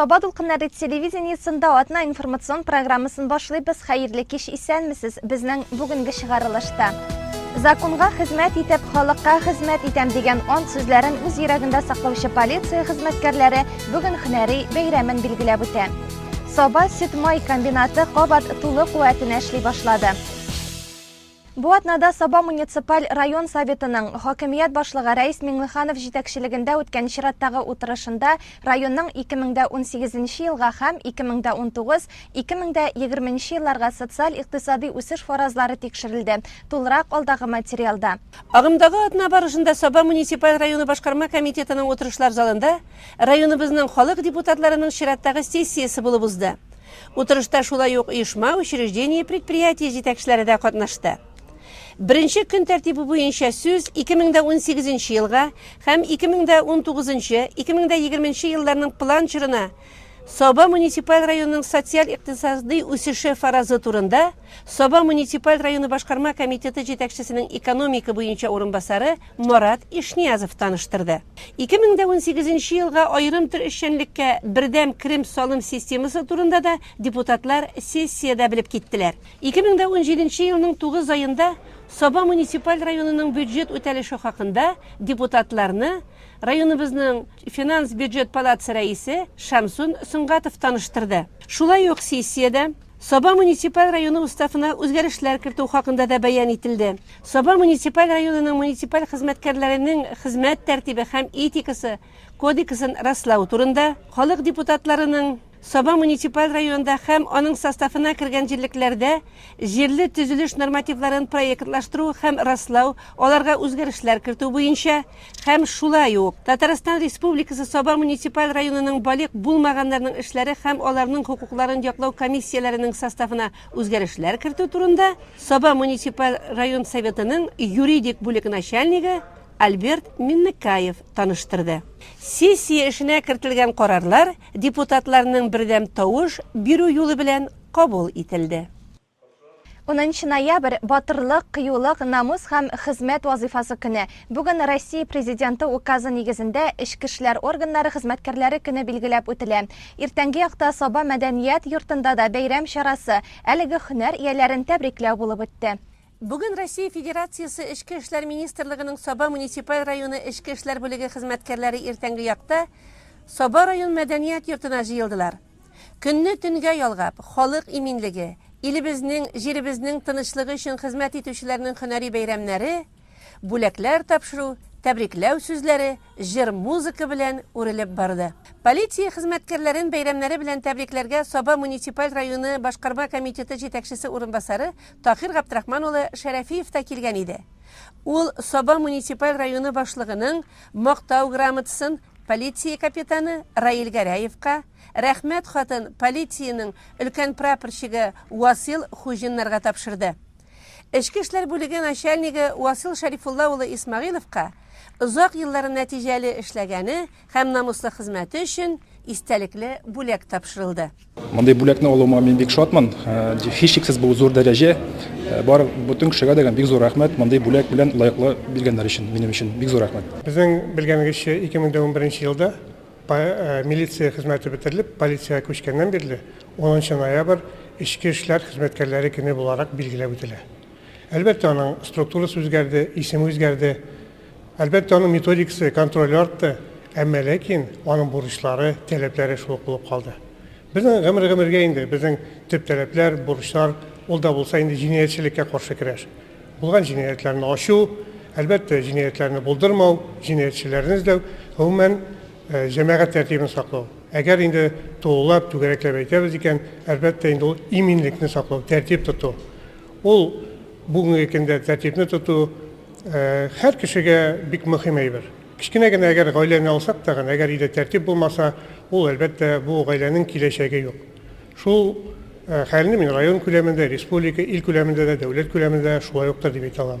Саба дулкыннары телевидениесында атна информацион программасын башлыйбыз. Хәерле кич исәнмесез. Безнең бүгенге чыгарылышта Законга хезмәт итеп, халыкка хезмәт итәм дигән ант сүзләрен үз йөрәгендә саклаучы полиция хезмәткәрләре бүген һөнәри бәйрәмен билгеләп үтә. Саба сөт-май комбинаты кабат тулы куәтенә эшли башлады. Бу атнада Саба муниципаль район советының хакимият башлыгы Рәис Миңлеханов җитәкчелегендә үткән чираттагы утырышында районның 2018 елга һәм 2019-2020 елларга социаль-икътисадый үсеш фаразлары тикшерелде, тулырак алдагы материалда. Агымдагы атна барышында Саба муниципаль районы башкарма комитетының утырышлар залында Районыбызның халык депутатларының чираттагы сессиясе булып узды. Утырышта шулай ук оешма, учреждение, предприятие җитәкчеләре дә катнашты. Беренче көн тәртибе буенча сүз 2018 елга һәм 2019-2020 елларның план чорына Саба муниципаль районының социаль-икътисадый үсеше фаразы турында Саба муниципаль районы башкарма комитеты җитәкчесенең экономика буенча урынбасары Марат Ишниязов таныштырды. Ике мең дә унсигез нче елга аерым төр эшчәнлеккә Бердәм Крым салым системасы турында да депутатлар сессиядә белеп киттеләр. Ике мең дә унҗиде нче елның тугыз аенда Саба муниципаль районының бюджет үтәлеше хакында депутатларны районыбызның финанс-бюджет палатасы рәисе Шәмсун Сөнгатов таныштырды. Шулай ук сессиядә Саба муниципаль районы уставына үзгәрешләр кертү хакында да бәян ителде. Саба муниципаль районының муниципаль хезмәткәрләренең хезмәт тәртибе һәм этикасы кодексын раслау турында, халык депутатларының Саба муниципаль районында һәм аның составына кергән җирлекләрдә җирле төзелеш нормативларын проектлаштыру һәм раслау, аларга үзгәрешләр кертү буенча Һәм шулай ук, Татарстан Республикасы Саба муниципаль районының балигъ булмаганнарның эшләре һәм аларның хокукларын яклау комиссияләренең составына үзгәрешләр кертү турында Саба муниципаль район Советының юридик бүлек начальнигы Альберт Миннекаев таныштырды. Сессия эшенә кертелгән карарлар депутатларның бердәм тавыш бирү юлы белән кабул ителде. Унынчы ноябрь, Батырлык, кыюлык, намус һәм хезмәт вазыйфасы көне. Бүген Россия Президенты Указы нигезендә эчке эшләр органнары хезмәткәрләре көне билгеләп үтелә. Иртәнге якта Саба мәдәният йортында да бәйрәм чарасы, әлеге һөнәр ияләрен тәбрикләү булып үтте. Бүген Россия Федерациясе Эчке эшләр министрлыгының Саба муниципаль районы эчке эшләр бүлеге хезмәткәрләре иртәнге якта Саба район мәдәният йортына җыелдылар. Көнне төнгә ялгап, халык иминлеге, илебезнең, җиребезнең тынычлыгы өчен хезмәт итүчеләрнең һөнәри бәйрәмнәре, бүләкләр тапшыру, тәбрикләү сүзләре җыр-музыка белән үрелеп барды. Полиция хезмәткәрләрен бәйрәмнәре белән тәбрикләргә Саба муниципаль районы башкарма комитеты җитәкчесе урынбасары Таһир Габдрахман улы Шәрәфиев та килгән иде. Ул Саба муниципаль районы башлыгының Мактау грамотасын, Полиция капитаны Раил Гәрәевка Рәхмәт хатын полициянең өлкән прапорщигы Васил Хуҗиннарга тапшырды. Эчке эшләр бүлеге начальнигы Васил Шәрифулла улы Исмәгыйловка озак еллар нәтиҗәле эшләгәне һәм намуслы хезмәте өчен истәлекле бүләк тапшырылды. Мондый бүләкне алуыма мин бик шатмын. Һичшиксез бу зур дәрәҗә. Бар бөтен кешегә дә бик зур рәхмәт мондый бүләк белән лаеклы биргәннәр өчен минем өчен бик зур рәхмәт. Безнең белгәнегезчә, 2011 елда милиция хезмәте бетерелеп, полициягә күчкәннән бирле 10 ноябрь эчке эшләр хезмәткәрләре көне буларак билгеләп үтелә. Әлбәттә, аның структурасы үзгәрде, исеме үзгәрде. Әлбәттә, аның методикасы, контроле артты, әмма ләкин аның бурычлары, таләпләре шул ук булып калды. Безнең гомер-гомергә инде безнең төп таләпләр, бурычлар, ул да булса инде җинаятьчелеккә каршы көрәш. Булган җинаятьләрне ачу, әлбәттә, җинаятьләрне булдырмау, җинаятьчеләрне эзләү, гомумән, җәмәгать тәртибен саклау. Әгәр инде тулылап, түгәрәкләп әйтәбез икән, әлбәттә инде ул иминлекне саклау, тәртип тоту. Ул бүгенге көндә тәртипне тоту, Э, һәр кешегә бик мөһим әйбер. Кечкенә генә әгәр гаиләне алсак та гына, әгәр өйдә тәртип булмаса, ул әлбәттә бу гаиләнең киләчәге юк. Шул э, хәлне мин район күләмендә, республика, ил күләмендә дә, дәүләт күләмендә шулай уктыр дип әйтә алам.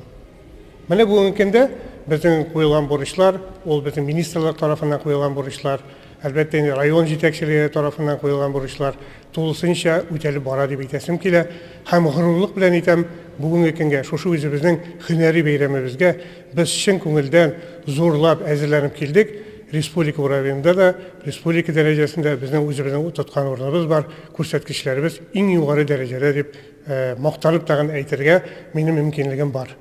Менә бүгенге көндә безнең куелган бурычлар, ул безнең министрлык тарафыннан куелган бурычлар, Әлбәттә инде район җитәкчелеге тарафыннан куелган бурычлар тулысынча үтәлеп бара дип әйтәсем килә. Һәм горурлык белән әйтәм, бүгенге көнгә, шушы үзебезнең һөнәри бәйрәмебезгә без чын күңелдән зурлап әзерләнеп килдек. Республика уровененда да, республика дәрәҗәсендә безнең үзебезнең тоткан урыныбыз бар, күрсәткечләребез иң югары дәрәҗәдә дип мактанып тагын әйтергә минем мөмкинлегем бар.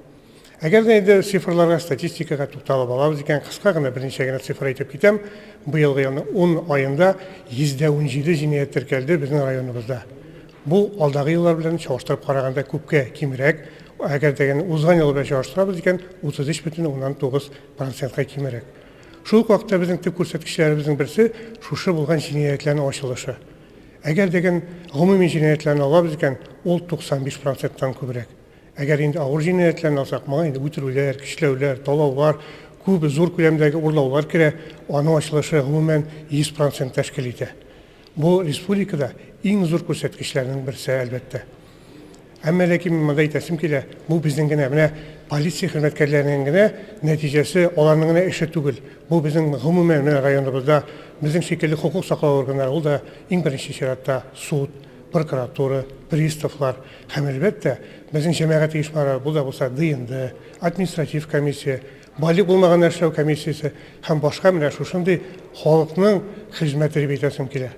Әгәр дә инде цифрларга, статистикага тукталып алабыз икән, кыска гына берничә генә цифр әйтеп китәм. Быелгы елның 10 аенда 117 җинаять теркәлде безнең районыбызда. Бу алдагы еллар белән чагыштырып караганда күпкә кимрәк. Әгәр дә узган ел белән чагыштырабыз икән, 33,9 процентка кимрәк. Шул ук вакытта безнең төп күрсәткечләребезнең берсе шушы булган җинаятьләрнең ачылышы. Әгәр дә гомуми җинаятьләрне алабыз икән, ул 95 проценттан күбрәк. Әгәр инде авыр җинаятьләрне алсак, моңа инде үтерүләр, көчләүләр, талаулар, күп зур күләмдәге урлаулар керә, аның ачылышы гомумән 100 процент тәшкил итә. Бу республикада иң зур күрсәткечләрнең берсе, әлбәттә. Әмма ләкин мин монда әйтәсем килә, бу безнең генә менә полиция хезмәткәрләренең генә нәтиҗәсе, аларның генә эше түгел. Бу безнең гомумән менә районыбызда безнең шикелле хокук саклау органнары, ул да иң беренче чиратта суд, прокуратура, приставлар, Һәм, әлбәттә, безнең җәмәгать оешмалары, бу да булса ДНД, административ комиссия, байлык булмаганнар эшләү комиссиясе һәм башка менә шушындый халыкның хезмәте дип әйтәсем килә.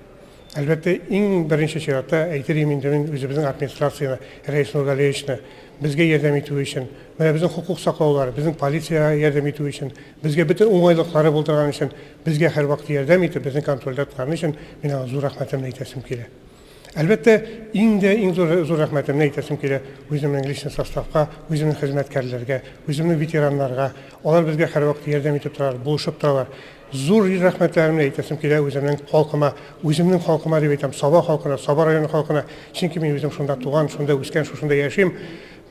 Әлбәттә, иң беренче чиратта әйтер идем инде мин үзебезнең администрацияне, Рәис Нургалиевичны, безгә ярдәм итүе өчен, менә безнең хокук саклаулар, безнең полициягә ярдәм итүе өчен, безгә бөтен уңайлыклары булдырган өчен, безгә һәрвакыт ярдәм итеп, безнең контрольдә торганы өчен мин аңа зур рәхмәтемне әйтәсем килә. Әлбәттә, иң дә иң зур зур рәхмәтемне әйтәсем килә үземнең личный составка, үземнең хезмәткәрләргә, үземнең ветераннарга. Алар безгә һәрвакыт ярдәм итеп торалар, булышып торалар. Зур рәхмәтләремне әйтәсем килә үземнең халкыма, үземнең халкыма дип әйтәм, Саба халкына, Саба районы халкына, чөнки мин үзем шунда туган, шунда үскән, шушында яшим.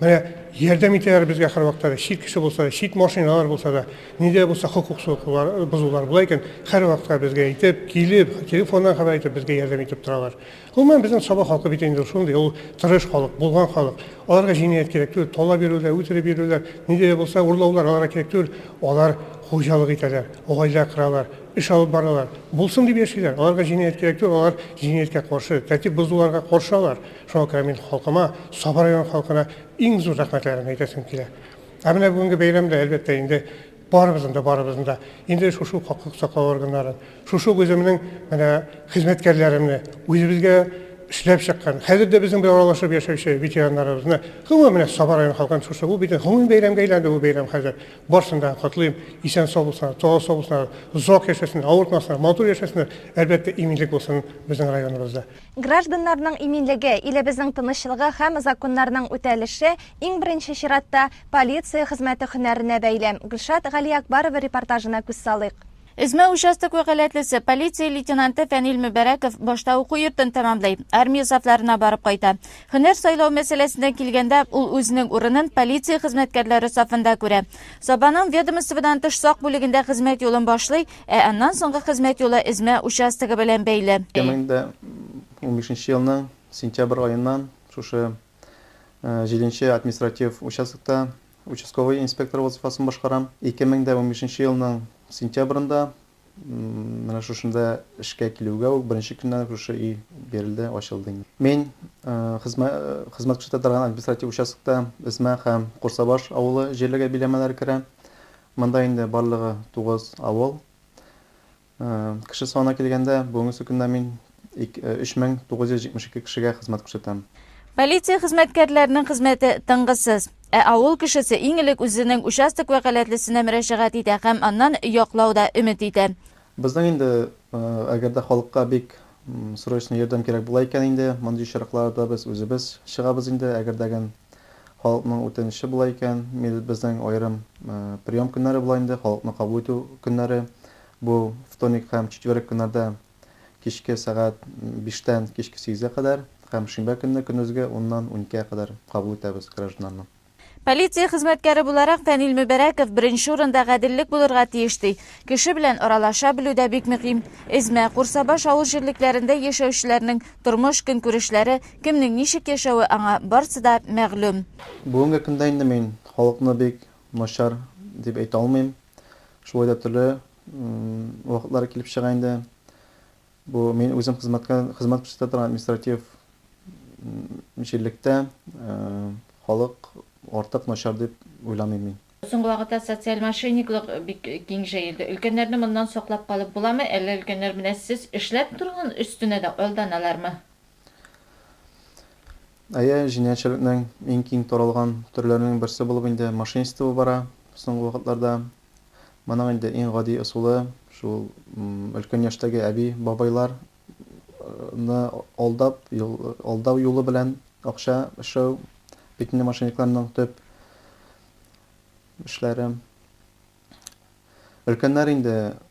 Менә ярдәм итәләр безгә һәрвакытта да, чит кеше булса да, чит машиналар булса да, нидә булса хокук сукулар, бозулар була икән, һәрвакытта безгә әйтеп, килеп, телефоннан хәбәр итеп, безгә ярдәм итеп торалар. Гомумән, безнең Саба халкы бит инде шундый, ул тырыш халык, булган халык. Аларга җинаять кирәк түгел, талап йөрүләр, үтереп йөрүләр, нидә булса урлаулар аларга кирәк түгел. Алар хуҗалык итәләр, гаилә коралар, эш алып баралар. Булсын дип яшиләр. Аларга җинаять кирәк түгел, алар җинаяткә каршы, тәртип бозуларга каршы алар. Шуңа күрә мин халкыма, Саба районы халкына иң зур рәхмәтләремне әйтәсем килә. Ә менә бүгенге бәйрәмдә, әлбәттә, инде барыбызның да, барыбызның да инде шушы ук хокук саклау органнарын, шушы ук үземнең менә хезмәткәрләремне, үзебезгә эшләп чыккан, хәзер дә безнең белән аралашып яшәүче ветераннарыбызны, гомумән, менә Саба районы халкын шушы, бу бит гомуми бәйрәмгә әйләнде бу бәйрәм хәзер. Барсын да котлыйм, исән-сау булсыннар, талау-сау булсыннар, озак яшәсеннәр, авыртмасыннар, матур яшәсеннәр, әлбәттә, иминлек булсын безнең районыбызда. Гражданнарның иминлеге, илебезнең тынычлыгы һәм законнарның үтәлеше, иң беренче чиратта, полиция хезмәте һөнәренә бәйле. Гөлшат Галиәкбарова репортажына күз салыйк. Эзмә участок вәкаләтлесе, полиция лейтенанты Фәнил Мөбәрәков башта уку йортын тәмамлый, армия сафларына барып кайта. Һөнәр сайлау мәсьәләсенә килгәндә, ул үзенең урынын полиция хезмәткәрләре сафында күрә. Сабаның ведомстводан тыш сак бүлегендә хезмәт юлын башлый, Ә аннан соңгы хезмәт юлы Эзмә участогы белән бәйле. 2015 нче елның сентябрь аеннан шушы җиденче нче административ участокта участковый инспектор вазыйфасын башкарам. 2015 нче елның сентябрендә менә шушында эшкә килүгә үк беренче көннән үк шушы өй бирелде, ачылды инде. Мин хезмәт күрсәтә торган административ участокта Эзмә һәм Курсабаш авылы җирлеге биләмәләре керә. Монда инде барлыгы тугыз авыл. Кеше санына килгәндә, бүгенге көннә мин 3972 кешегә хезмәт күрсәтәм. Полиция хезмәткәрләренең хезмәте тынгысыз. Ә авыл кешесе иң элек үзенең участок вәкаләтлесенә мөрәҗәгать итә һәм аннан яклау да өмет итә. Безнең инде, әгәр дә халыкка бик срочно ярдәм кирәк була икән инде, мондый очракларда без үзебез чыгабыз инде, әгәр дә гән Халыкның үтенече болай икән, милетбезнең аерым прием көннәре була инде, халыкны кабул итү көннәре. Бу вторник һәм четверг көннәрдә кичке сәгать биштән кичке сигезгә кадәр һәм шимбә көнне көндезге уннан уникегә кадәр кабул итәбез гражданнарны. Полиция хезмәткәре буларак, Фәнил Мөбәрәков беренче урында гаделлек булырга тиеш, ди. Кеше белән аралаша белү дә бик мөһим. Эзмә, Курсабаш авыл җирлекләрендә яшәүчеләрнең тормыш-көнкүрешләре, Кемнең ничек яшәве аңа барсы да мәгълүм. Бүгенге көндә инде мин халыкны бик начар дип әйтә алмыйм. Шулай да төрле вакытлар килеп чыга инде. Бу мин үзем хезмәткә хезмәт күрсәтә торган административ җирлектә халык артык начар дип уйламыйм мин. Соңгы вакытта социаль мошенниклык бик киң җәелде. Өлкәннәрне моннан саклап калып буламы, әллә өлкәннәр менә сез эшләп торган өстенә дә алданалармы? Әйе, җинаятьчелекнең иң киң таралган төрләренең берсе булып инде мошенничество бара соңгы вакытларда. Моның инде иң гади ысулы, шул өлкән яшьтәге әби-бабайлар ны алдап, алдау юлы белән акча эшләү бит инде мошенникларның төп эшләре. Өлкәннәр инде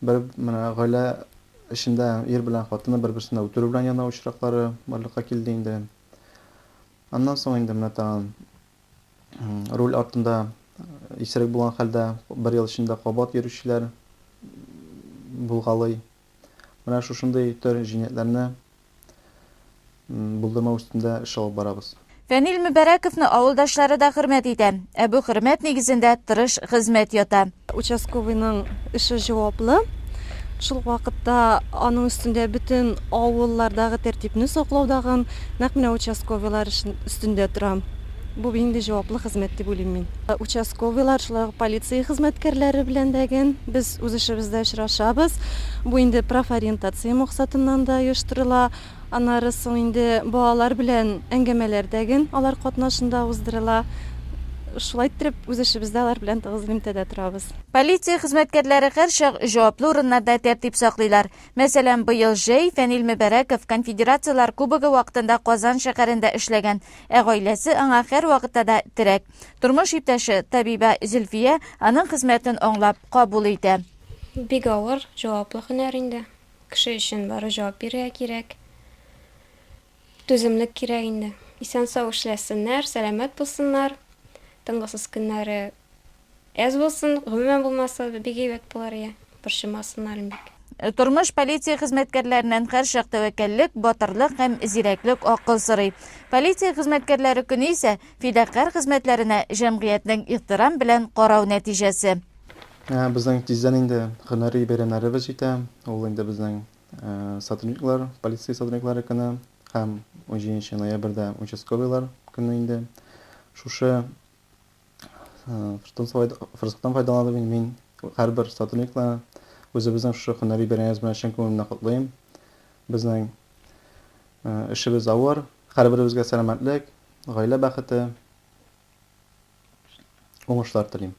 Бер менә гаилә эчендә ир белән хатыны бер-берсенә үтерү белән яна очраклары барлыкка килде инде. Аннан соң инде менә тагын руль артында исерек булган хәлдә бер ел эчендә кабат йөрүчеләр булгалый. Менә шушындый төр җинаятьләрне Булдырма өстендә эш алып барабыз. Фәнил Мөбәрәковны авылдашлары да хөрмәт итә. Ә бу хөрмәт нигезендә тырыш хезмәт ята. Участковыйның эше җаваплы. Шул ук вакытта аның өстендә бөтен авыллардагы тәртипне саклау дагын нәкъ менә участковыйлар өстендә тора. Бу бин инде җаваплы хезмәт дип уйлыйм мин. Участковыйлар, шулай ук полиция хезмәткәрләре белән дә ген без үз эшебездә очрашабыз. Бу инде профориентация максатыннан да оештырыла. Аннары соң инде балалар белән әңгәмәләр дә ген алар катнашында уздырыла. Шулай иттереп, үз эшебездә алар белән тыгыз элемтәдә торабыз. Полиция хезмәткәрләре һәрчак җаваплы урыннарда тәртип саклыйлар. Мәсәлән, быел җәй Фәнил Мөбәрәков Конфедерацияләр Кубогы вакытында Казан шәһәрендә эшләгән Ә гаиләсе аңа һәрвакытта да терәк. Тормыш иптәше, табибә Зөлфия аның хезмәтен аңлап, кабул итә. Бик авыр, җаваплы һөнәр инде. Кеше өчен барыбер җавап бирергә кирәк. Түземлек кирәк инде. Исән-сау эшләсеннәр, сәламәт булсыннар. Тынгысыз көннәре. Әз булсын, гомумән булмаса да бик әйбәт булыр иде. Борчымасыннар иң бик. Тормыш полиция хезмәткәрләреннән һәрчак тәвәккәллек, батырлык һәм зирәклек, акыл сорый. Полиция хезмәткәрләре көне исә, фидакарь хезмәтләренә җәмгыятьнең ихтирам белән карау нәтиҗәсе. Ә безнең тиздән инде һөнәри бәйрәмнәребез җитә, ул инде безнең сотрудниклар, полиция сотрудниклары көне һәм унҗиденче ноябрьдә участковыйлар көне инде. Шушы. Форсаттан файдаланып инде мин һәрбер сотрудникны үзебезнең шушы һөнәри бәйрәмебез белән чын күңелемнән котлыйм. Безнең эшебез авыр, һәрберебезгә сәламәтлек, гаилә бәхете, уңышлар телим.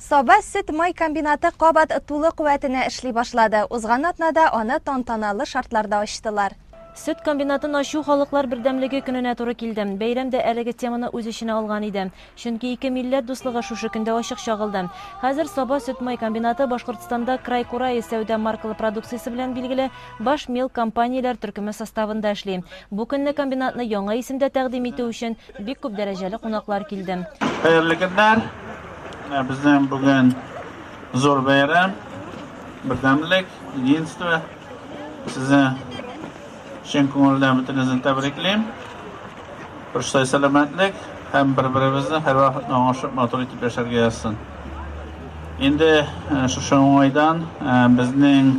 Саба сөт-май комбинаты кабат тулы куәтенә эшли башлады. Узган атнада аны тантаналы шартларда ачтылар. Сөт комбинатын ачу Халыклар бердәмлеге көненә туры килде. Бәйрәм дә әлеге теманы үз эченә алган иде. Чөнки ике милләт дуслыгы шушы көндә ачык чагылды. Хәзер Саба сөт-май комбинаты Башкортстанда Край кураи сәүдә маркалы продукциясе белән билгеле баш мел компанияләр төркеме составында эшли. Бу көнне комбинатны яңа исемдә тәкъдим итү өчен Бик күп дәрәҗәле кунаклар килде. Хәерле көннәр! Менә безнең бүген зур бәйрәм, бердәмлек, единство. Сезне чын күңелдән бөтенезне тәбриклим. Баштай сәламәтлек һәм бер-беребезне һәрвакыт аңлашып матур итеп яшәргә язсын. Инде шушы уңайдан безнең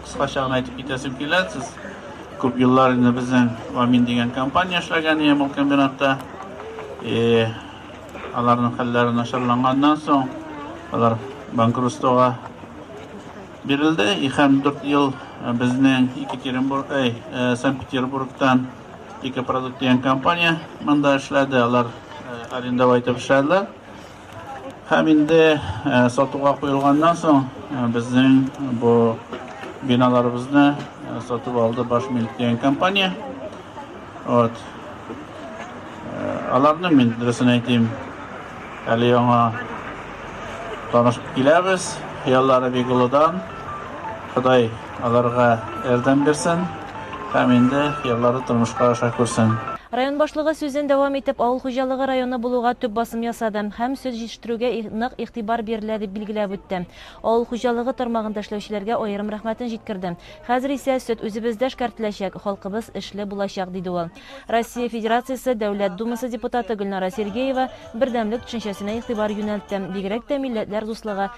кыскача гына әйтеп китәсем килә, сез Күп еллар инде безнең Амин дигән компания эшләгән ямал комбинатта. И аларның хәлләре начарланганнан соң, алар банкротствога бирелде. И һәм 4 ел э, безнең Екатеринбург, эй, э, Санкт-Петербургтан Экопродукт дигән компания монда эшләде. Алар э, арендовать итеп эшләделәр. Һәм инде сатуга куелганнан соң безнең бу биналарыбызны сатып алды баш милк дигән компания. Вот. Аларны мин дөресен әйтим. Әле яңа танышып киләбез. Хыяллары бик олыдан. Ходай аларга ярдәм бирсен. Һәм инде хыяллары тормышка аша күрсен. Район башлыгы сүзен дәвам итеп, авыл хуҗалыгы районы булуга төп басым ясады һәм сөт җитештерүгә нык игътибар бирелә, дип билгеләп үтте. Авыл хуҗалыгы тармагында эшләүчеләргә аерым рәхмәтен җиткерде. Хәзер исә сөт үзебездә эшкәртеләчәк, халкыбыз эшле булачак, диде ул. Россия Федерациясе Дәүләт Думасы депутаты Гөлнара Сергеева бердәмлек төшенчәсенә игътибар юнәлтте, бигрәк тә милләтләр дуслыгы,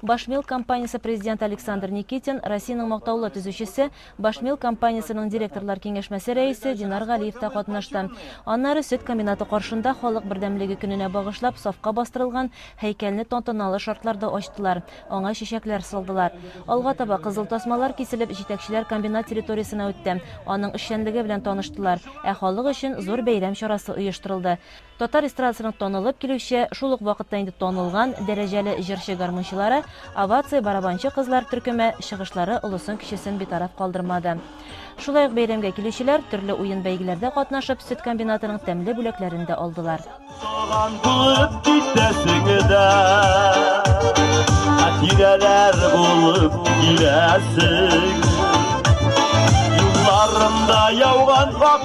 Башмилк компаниясе президенты Александр Никитин, Россиянең мактаулы төзүчесе, Башмилк компаниясенең директорлар киңәшмәсе рәисе Динар Галиев та катнашты. Аннары сөт комбинаты каршында Халык бердәмлеге көненә багышлап сафка бастырылган һәйкәлне тантаналы шартларда ачтылар, аңа чәчәкләр салдылар. Алга таба кызыл тасмалар киселеп, җитәкчеләр комбинат территориясенә үтте, аның эшчәнлеге белән таныштылар, ә халык өчен зур бәйрәм чарасы оештырылды. Татар эстрадасының танылып килүче, шул ук вакытта инде танылган, дәрәҗәле җырчы-гармунчылары, овация барабанчы кызлар төркеме, чыгышлары олысын-кечесен битараф калдырмады. Шулай ук бәйрәмгә килүчеләр, төрле уен-бәйгеләрдә катнашып, сөт комбинатының тәмле бүләкләрен дә алдылар. Туган булып китәсең дә, хатирәләр булып киләсең. Юлларымда яуган ак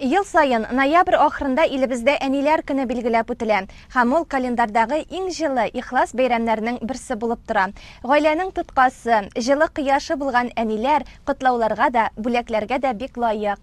Ел саен ноябрь ахырында илебездә Әниләр көне билгеләп үтелә һәм ул календарьдагы иң җылы, ихлас бәйрәмнәрнең берсе булып тора. Гаиләнең тоткасы, җылы кояшы булган әниләр котлауларга да, бүләкләргә дә бик лаек.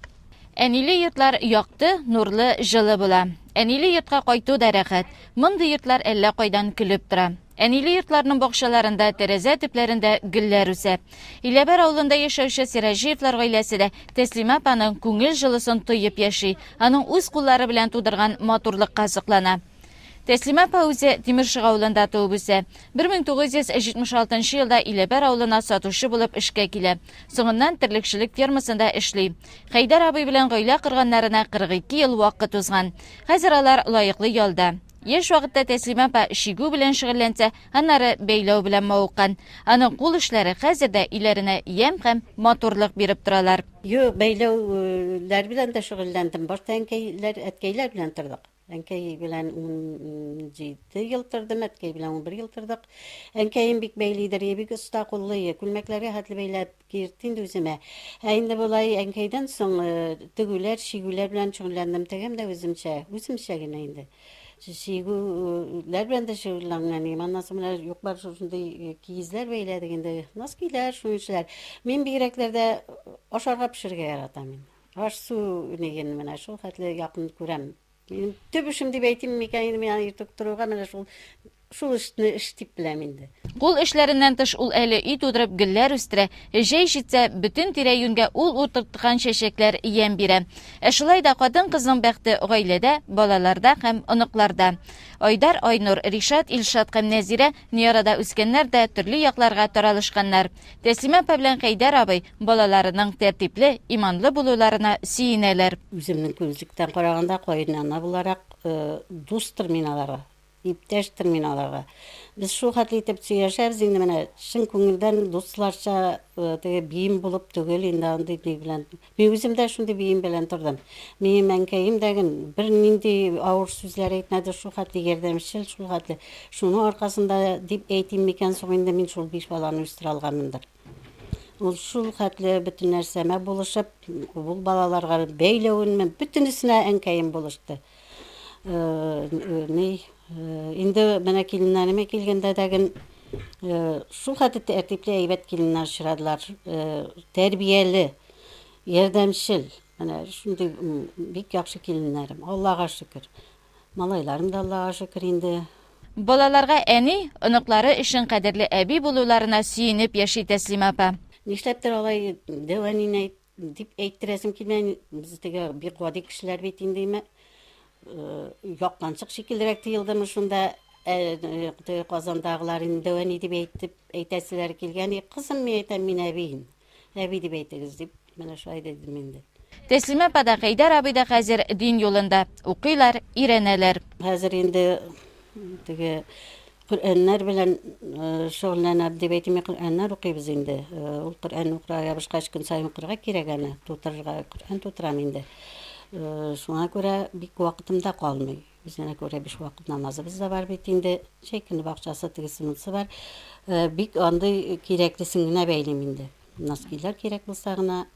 Әниле йортлар якты, нурлы, җылы була. Әниле йортка кайту да рәхәт. Мондый йортлар әллә кайдан көлеп тора. Әниле йортларның бакчаларында, тәрәзә төпләрендә гөлләр үсә. Иләбәр авылында яшәүче Сираҗиевлар гаиләсе дә Тәслимә апаның күңел җылысын тоеп яши, аның үз куллары белән тудырган матурлыкка соклана. Тәслимә апа үзе Тимершык авылында туып үсә. 1976 нчы елда Иләбәр авылына сатучы булып эшкә килә. Соңыннан терлекчелек фермасында эшли. Хәйдәр абый белән гаилә корганнарына 42 ел вакыт узган. Хәзер алар лаеклы ялда. Яшь вакытта Тәслимә апа чигү белән шөгыльләнсә, аннары бәйләү белән мавыккан. Аның кул эшләре хәзер дә өйләренә ямь һәм матурлык биреп торалар. Юк, бәйләүләр белән дә шөгыльләндем. Башта әнкәйләр, әткәйләр белән тордык. Әнкәй белән унҗиде ел тордым, әткәй белән унбер ел тордык. Әнкәем бик бәйлидер, бик оста куллы, күлмәкләргә хәтле бәйләп, Киертте инде үземә. Ә инде болай әнкәйдән соң тегүләр, чигүләр белән шөгыльләндем. Тегәм дә үземчә, үземчә генә инде. Чигүләр белән дә шөгыльләнгәнем. Аннан соң менә юк-бар шушындый киезләр бәйләдек инде. Носкиләр, шунишләр. Мин бигрәкләрдә ашарга пешерергә яратам мин. Аш-су нигене менә шул хәтле якын күрәм. Минем төп эшем дип әйтим микән инде, мин аны йөртеп торуга менә шул шул эшне эш дип беләм инде. Кул эшләреннән тыш ул әле өй тудырып гөлләр үстерә, җәй җитсә, бөтен тирә-юньгә ул утырткан чәчәкләр ямь бирә. Ә шулай да хатын-кызның бәхте гаиләдә, балаларда һәм оныкларда. Айдар, Айнур, Ришат, Илшат һәм Нәзирә Ни арада үскәннәр дә төрле якларга таралышканнар. Тәслимә апа белән Хәйдәр абый балаларының тәртипле, иманлы булуларына сөенәләр. Үземнең күзлектән караганда, каенана буларак, дустыр мин аларга, иптәштер мин аларга. Без шул хәтле итеп сөйләшәбез инде, менә чын күңелдән дусларча, теге биим булып түгел инде, андый ни белән Мин үзем дә шундый бием белән тордым. Минем әнкәем дә гын бернинди авыр сүзләр әйтмәде, шул хәтле ярдәмчел, шул хәтле. Шуның аркасында дип әйтим микән соң инде, мин шул биш баланы үстерә алганмындыр. Ул шул хәтле бөтен нәрсәмә булышып, ул балаларга бәйләвенме, бөтенесенә әнкәем булышты. Ни, инде менә киленнәремә килгәндә дәген шул хәтле тәртипле, әйбәт киленнәр очрадылар. Тәрбияле, ярдәмчел. Менә шундый бик яхшы киленнәрем. Аллага шөкер. Малайларым да Аллага шөкер инде. Балаларга әни, оныклары өчен кадерле әби булуларына сөенеп яши Тәслимә апа. Нишләптер алай дәвамин әйт. Дип әйттерәсем килә. Без теге бик гади кешеләр бит инде име. Яктанчык шикеллерәк тыелдымы шунда Казандагылар инде әни дип әйтеп әйтәселәр килгән. Кызым, мин әйтәм, мин әбием. Әби дип әйтегез дип, менә шулай дидем инде. Тәслимә апа да, Хәйдәр абый да хәзер дин юлында. Укыйлар, өйрәнәләр. Хәзер инде теге Коръәннәр белән шөгыльләнәбез дип әйтим, Коръәннәр укыйбыз инде. Ул Коръән укырга ябышкач, көн саен укырга кирәк аны, тутырырга Коръән тутырам инде. Шуңа күрә бик вакытым да калмый. Үзенә күрә биш вакыт намазыбыз да бар бит инде. Җәй көне бакчасы тегесе монысы бар. Бик андый кирәклесен генә бәйлим инде. Носкилар кирәк булса гына,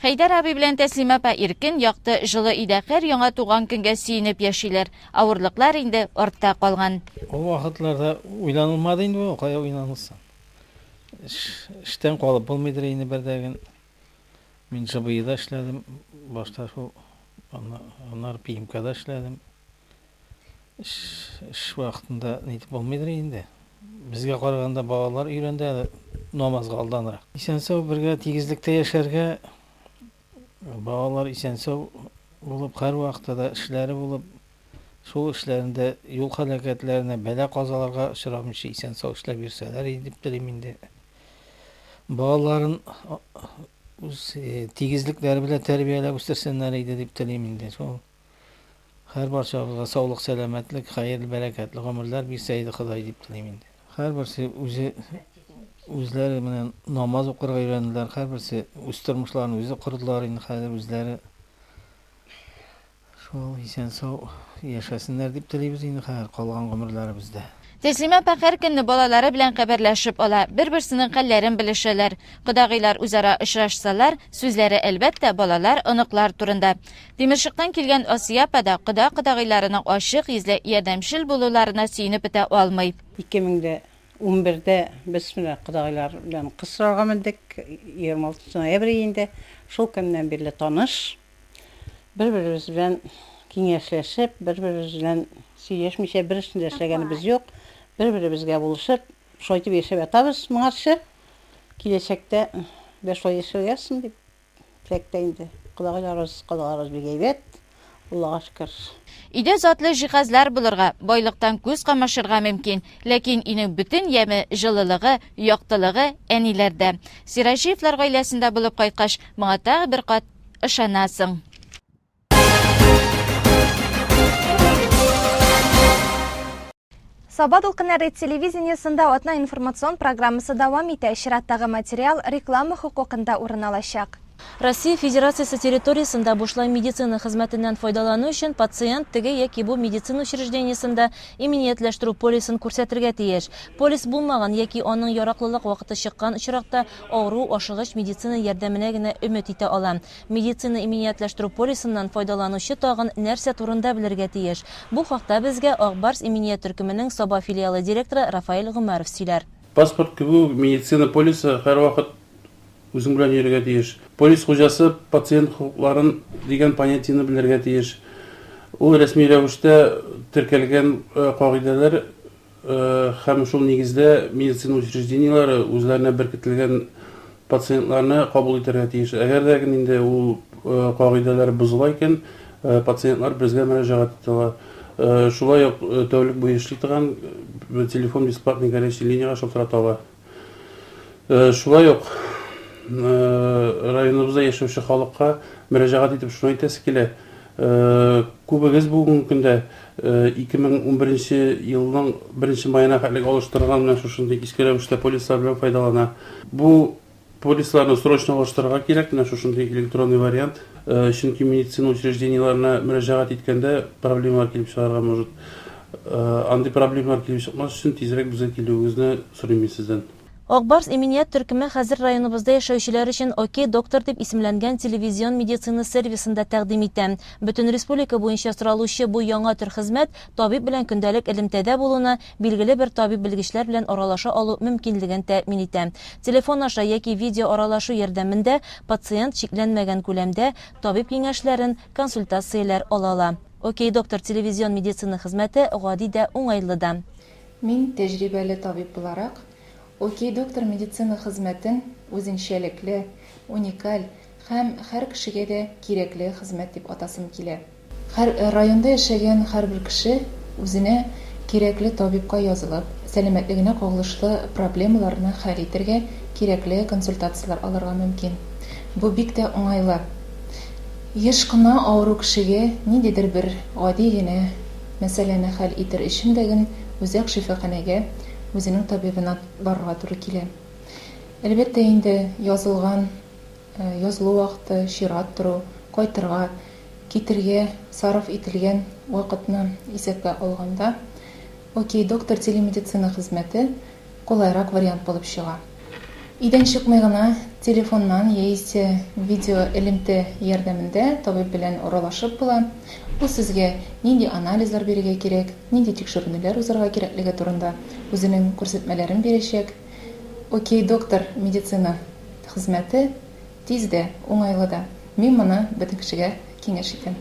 Хәйдәр абый белән Тәслимә апа иркен, якты, җылы өйдә хәр-яңа туган көнгә сөенеп яшиләр. Авырлыклар инде артта калган. Ул вакытларда уйланылмады инде бу, кая уйланылсын. Эштән калып булмыйдыр инде бердәген. Мин ЖБИда эшләдем, башта шул, аннары ПИМКда эшләдем. Эш вакытында нитеп булмыйдыр инде. Безгә караганда балалар өйрәнде әле намазга алданрак. Исән-сау бергә тигезлектә яшәргә, балалар исән-сау булып, һәрвакытта да эшләре булып, шул эшләрендә юл һәлакәтләренә, бәла-казаларга очрамыйча исән-сау эшләп йөрсәләр иде дип телим инде. Балаларын үз тигезлекләре белән тәрбияләп үстерсеннәр иде дип телим инде. Шул Хәр барчабызга саулык сәләмәтлек, хәерле бәрәкәтле гомерләр бирсә иде Ходай дип телим инде. Хәрберсе үзе үзләре менә намаз укырга өйрәнделәр, хәрберсе үз тормышларын үзе кордылар инде хәзер үзләре. Шул исән сау яшәсеннәр дип телибез инде хәзер калган гомерләребездә. Тәслимә апа һәр көнне балалары белән хәбәрләшеп ала, бер-берсенең хәлләрен белешәләр. Кодагыйлар үзара очрашсалар, сүзләре, әлбәттә, балалар, оныклар турында. Тимершыктан килгән Асия апа да кода-кодагыйларының ачык йөзле, ярдәмчел булуларына сөенеп бетә алмый. 2011 дә без менә кодагыйлар белән кыз сорарга мендек, 26 ноябрь июньдә, шул көннән бирле таныш, бер-беребез белән киңәшләшеп, бер-беребез белән сөйләшмичә бер эшне дә эшләгәнебез юк, бер-беребезгә булышып, шулай итеп яшәп ятабыз моңарчы, киләчәктә дә шулай яшәргә язсын дип. Теләктә инде. Колагайларыбыз, колагыбыз бик әйбәт, Аллага шөкер. Өйдә затлы җиһазлар булырга, байлыктан күз камашырга мөмкин, ләкин өйнең бөтен яме, җылылыгы, яктылыгы әниләрдә. Сираҗиевлар гаиләсендә булып кайткач, моңа тагы бер кат ышанасың. Саба дулкыннары телевидениесында атна информацион программасы дәвам итә. Чираттагы материал реклама хокукында урын алачак. Россия Федерациясе территориясендә бушлай медицина хезмәтеннән файдалану өчен пациент теге яки бу медицина учреждениесендә иминиятләштерү полисын күрсәтергә тиеш. Полис булмаган яки аның яраклылык вакыты чыккан очракта авыру ашыгыч медицина ярдәменә генә өмет итә ала. Медицина иминиятләштерү полисыннан файдаланучы тагын нәрсә турында белергә тиеш? Бу хакта безгә Ак Барс иминият төркеменең Саба филиалы директоры Рафаэль Гомәров сөйләр. Паспорт кебек үк медицина полисы һәрвакыт үзең белән йөрергә тиеш. Полис хуҗасы пациент хокукларын дигән понятиене белергә тиеш. Ул рәсми рәвештә теркәлгән кагыйдәләр Һәм шул нигездә медицина учреждениеләре үзләренә беркетелгән пациентларны кабул итәргә тиеш. Әгәр дә инде ул кагыйдәләр бозыла икән, пациентлар безгә мөрәҗәгать итә ала. Шулай ук тәүлек буе эшли торган телефон бесплатный горячий линиягә шалтырата ала. Шулай ук районыбызда яшәүче халыкка мөрәҗәгать итеп шуны әйтәсе килә. Күбегез бүгенге көндә 2011 елның 1 маена хәтлек алыштырылган менә шушындый иске рәвештә полислар белән файдалана. Бу Полисларны срочно алыштырырга кирәк, менә шушындый электронный вариант, чөнки медицина учреждениеләренә мөрәҗәгать иткәндә проблемалар килеп чыгарга может. Андый проблемалар килеп чыкмас өчен тизрәк безгә килүегезне сорыйм мин сездән. Ак Барс иминият төркеме хәзер районыбызда яшәүчеләр өчен Окей, доктор дип исемләнгән телевизион медицина сервисын да тәкъдим итә. Бөтен республика буенча соралучы бу яңа төр хезмәт табиб белән көндәлек элемтәдә булуны, билгеле бер табиб-белгечләр белән аралаша алу мөмкинлеген тәэмин итә. Телефон аша яки видеоаралашу ярдәмендә пациент чикләнмәгән күләмдә табиб киңәшләрен, консультацияләр ала ала. Окей, доктор телевизион медицина хезмәте гади дә, уңайлы да. Мин, тәҗрибәле табиб буларак, Окей, доктор медицина хезмәтен үзенчәлекле, уникаль һәм һәр кешегә дә кирәкле хезмәт дип атасым килә. Һәр районда яшәгән һәрбер кеше үзенә кирәкле табибка язылып, сәламәтлегенә кагылышлы проблемаларны хәл итәргә кирәкле консультацияләр алырга мөмкин. Бу бик тә уңайлы. Еш кына авыру кешегә ниндидер бер гади генә мәсьәләне хәл итер өчен дә гел үзәк шифаханәгә, үзенең табибына барырга туры килә. Әлбәттә инде, язылган. язылу вакыты, чират тору, кайтырга, китергә сарыф ителгән вакытны исәпкә алганда, Окей доктор телемедицина хезмәте кулайрак вариант булып чыга. Өйдән чыкмый гына, телефоннан яисә видеоэлемтә ярдәмендә табиб белән аралашып була, ул сезгә нинди анализлар бирергә кирәк, нинди тикшеренүләр узарга кирәклеге турында үзенең күрсәтмәләрен бирәчәк. Окей, доктор, медицина хезмәте тиз дә, уңайлы да. Мин моны бөтен кешегә киңәш итәм.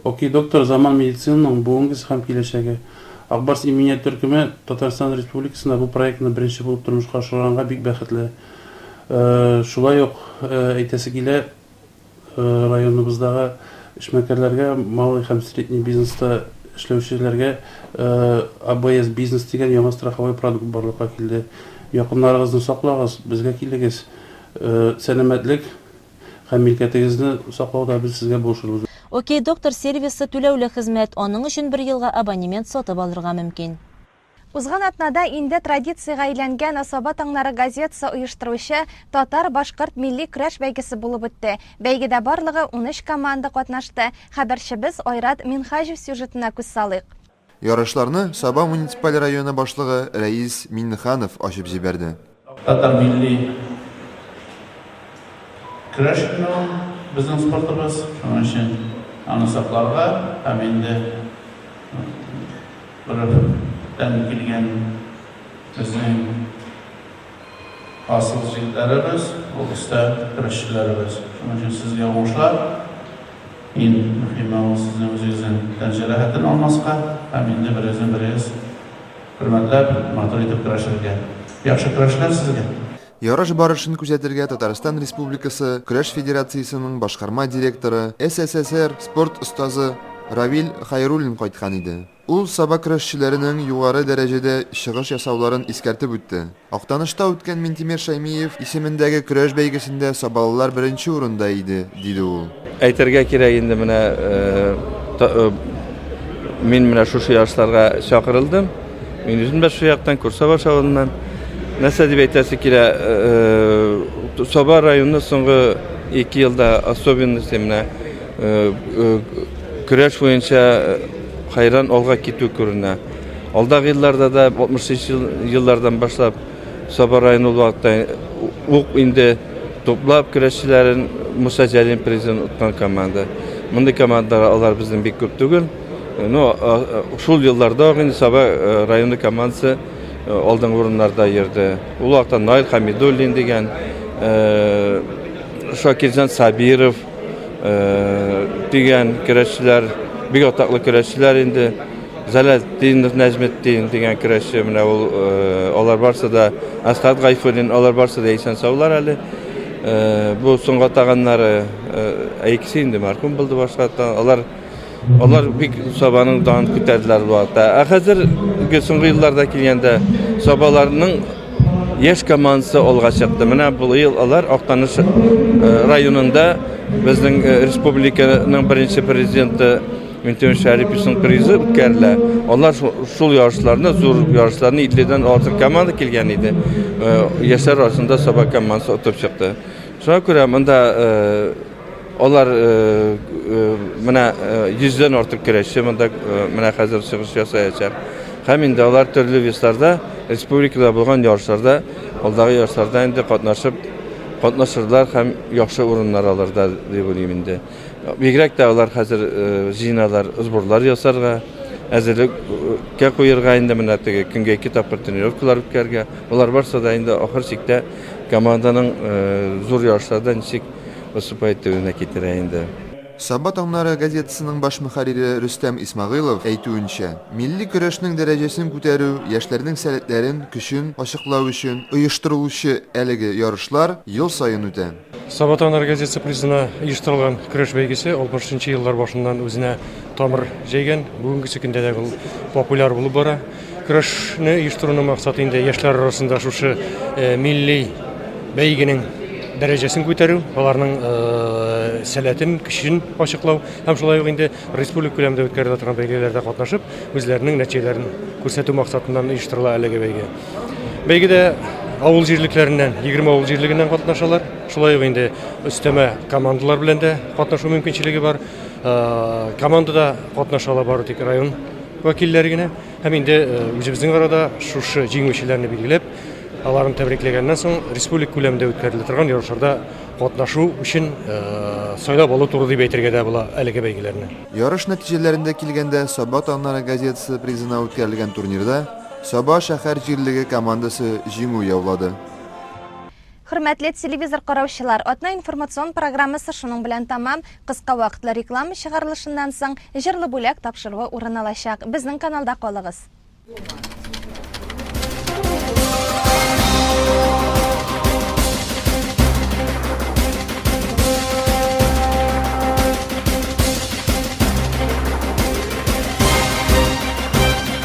Окей, доктор, заман медицинаның бүгенгесе һәм киләчәге. Ак Барс иминият төркеме Татарстан Республикасында бу проектны беренче булып тормышка ашырганга бик бәхетле. Шулай ук әйтәсе килә, Районыбыздагы эшмәкәрләргә, малый һәм средний бизнеста эшләүчеләргә АБС Бизнес дигән яңа страховой продукт барлыкка килде. Якыннарыгызны саклагыз, безгә килегез. Сәламәтлек һәм милкәтегезне саклауда без сезгә булышырбыз. Окей Доктор сервисы түләүле хезмәт, аның өчен бер елга абонемент сатып алырга мөмкин. Узган атнада инде традициягә әйләнгән Асаба таңнары газетасы оештыручы Татар-башкорт милли көрәш бәйгесе булып үтте. Бәйгедә барлыгы унөч команда катнашты. Хәбәрчебез Айрат Минһаҗев сюжетына күз салыйк. Ярышларны Саба муниципаль районы башлыгы Рәис Миңнеханов ачып җибәрде. Татар милли көрәш инде ул безнең спортыбыз, шуның өчен аны сакларга һәм инде бөртән килгән безнең асыл җегетләребез, ул өстә көрәшчеләребез. Шуның өчен сезгә уңышлар. Иң мөһиме ул сезнең үзегезнең тән җәрәхәтен алмаска һәм инде берегезне берегез Хөрмәтләп, матур итеп көрәшергә. Яхшы көрәшләр сезгә! Ярыш барышын күзәтергә Татарстан Республикасы Көрәш федерациясенең башкарма директоры, СССР спорт остазы Равил Хәйруллин кайткан иде. Ул Саба көрәшчеләренең югары дәрәҗәдә чыгыш ясауларын искәртеп үтте. Актанышта үткән Минтимер Шәймиев исемендәге көрәш бәйгесендә сабалылар беренче урында иде, диде ул. Әйтергә кирәк инде, менә мин менә шушы ярышларга чакырылдым. Мин үзем дә шул яктан, Курсабаш авылыннан. Нәрсә дип әйтәсе килә, Саба районы соңгы ике елда особенности менә көрәш буенча хәйран алга китү күренә. Алдагы елларда да 63 ел, еллардан башлап Саба районы ул вакытта ук инде туплап көрәшчеләрен Муса Җәлим призын откан команда. Мондый командалар алар безнең бик күп түгел. Ну, шул елларда ук инде Саба э, районы командасы э, алдынгы урыннарда йөрде. Ул вакытта Наил Хамидуллин дигән, э, Шакирҗан Сабиров дигән көрәшчеләр, бик атаклы көрәшчеләр инде. Зәләлетдинов Нәҗметдин дигән көрәшче, менә ул, э, алар барсы да, Асхат Гайфуллин, алар барсы да исән саулар әле. Э, бу соңга таганнары, э, икесе инде мархум булды башка та, алар алар бик Сабаның данын күтәрделәр бу вакытта. Ә хәзерге соңгы елларда килгәндә Сабаларның яшь командасы алга чыкты. Менә бу ел алар Актаныш э, районында безнең э, республиканың беренче президенты Мөнтемеш Шәрипичнең призы үткәрелә. Алар шул ярышларны, зур ярышларны 50-дән артык команда килгән иде. Э, яшьләр арасында Саба командасы отып чыкты. Шуңа күрә монда э, алар э, менә 100-дән артык көрәшче монда менә хәзер чыгыш ясаячак. Һәм инде алар төрле весларда, республикада булган ярышларда, алдагы ярышларда инде катнашып катнашырлар һәм яхшы урыннар алырда дип уйлыйм инде. Бигрәк тә алар хәзер җыеналар сборлар ясарга, әзерлеккә куерга инде менә теге көнгә ике тапкыр тренировкалар үткәргә. Болар барса да инде ахыр чиктә команданың зур ярышларда ничек выступать итүенә китерә инде. Саба таңнары газетасының баш мөхәррире Рөстәм Исмәгыйлов әйтүенчә, милли көрәшнең дәрәҗәсен күтәрү, яшьләрнең сәләтләрен, көчен ачыклау өчен оештырылучы әлеге ярышлар ел саен үтә. Сабата энергетикасы призына оештырылган көрәш бәйгесе 60 нчы еллар башыннан үзенә тамыр җәйгән, бүгенгесе көндә дә ул популяр булып бара. Көрәшне оештыруның максаты инде яшьләр арасында шушы милли бәйгенең дәрәҗәсен күтәрү, аларның сәләтен, көчен ачыклау һәм шулай ук инде республика күләмендә үткәрелә торган бәйгеләрдә катнашып, үзләренең нәтиҗәләрен күрсәтү максатыннан оештырыла әлеге бәйге. Бәйгедә авыл җирлекләреннән, 20 авыл җирлегеннән катнашалар. Шулай ук инде өстәмә командалар белән дә катнашу мөмкинчелеге бар. Э, командада катнашалар бары тик район вәкилләре генә. Һәм инде э, үзебезнең арада шушы җиңүчеләрне билгеләп, аларны тәбрикләгәннән соң республик күләмендә үткәрелә торган ярышларда катнашу өчен э, сайлап алу туры дип әйтергә дә була әлеге бәйгеләрне. Ярыш нәтиҗәләрендә килгәндә, Саба таңнары газетасы призына үткәрелгән турнирда Саба шәһәр җирлеге командасы җиңү яулады. Хөрмәтле телевизор караучылар, атна информацион программасы шуның белән тәмам. Кыска вакытлы реклама чыгарылышыннан соң, җырлы бүләк тапшыруы урын алачак. Безнең каналда калыгыз!